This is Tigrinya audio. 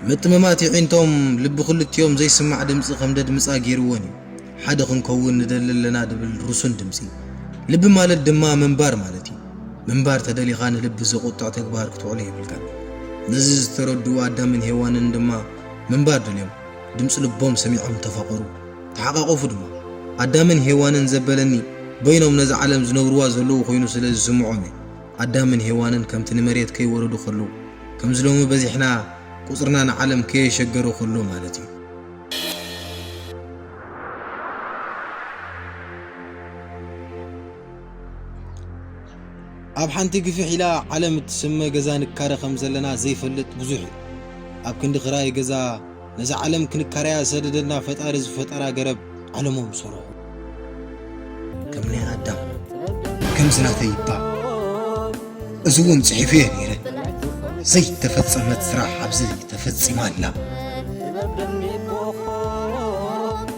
ምጥምማት የዒንቶም ልቢ ክልቲኦም ዘይስማዕ ድምጺ ከም ደድምጻ ጌርወን እዩ። ሓደ ክንከውን ንደሊ ኣለና ድብል ርሱን ድምጺ። ልቢ ማለት ድማ ምንባር ማለት እዩ። ምንባር ተደሊኻ ንልቢ ዘቑጥዕ ተግባር ክትውዕሎ የብልካን። ነዚ ዝተረድኡ ኣዳምን ሄዋንን ድማ ምንባር ደልዮም ድምጺ ልቦም ሰሚዖም ተፋቐሩ። ተሓቛቖፉ ድማ። ኣዳምን ሄዋንን ዘበለኒ በይኖም ነዛ ዓለም ዝነብርዋ ዘለዉ ኮይኑ ስለ ዝስምዖም እዩ። ኣዳምን ሄዋንን ከምቲ ንመሬት ከይወረዱ ከለዉ ከምዚ ሎሚ በዚሕና ቁጽርና ንዓለም ከየሸገሮ ከሎ ማለት እዩ። ኣብ ሓንቲ ግፍሕ ኢላ ዓለም እትስመ ገዛ ንካረ ከምዘለና ዘይፈልጥ ብዙሕ እዩ። ኣብ ክንዲ ክራይ ገዛ ነዛ ዓለም ክንካረያ ዝሰደደልና ፈጣሪ ዝፈጠራ ገረብ ዓለሞም ዝሰርሑ ከም ናይ ኣዳም ከምዚ ናተይ ይባ እዚ እውን ጽሒፉ እየ ነይረ ዘይተፈጸመት ስራሕ ኣብዚ ተፈጺማ ኣላ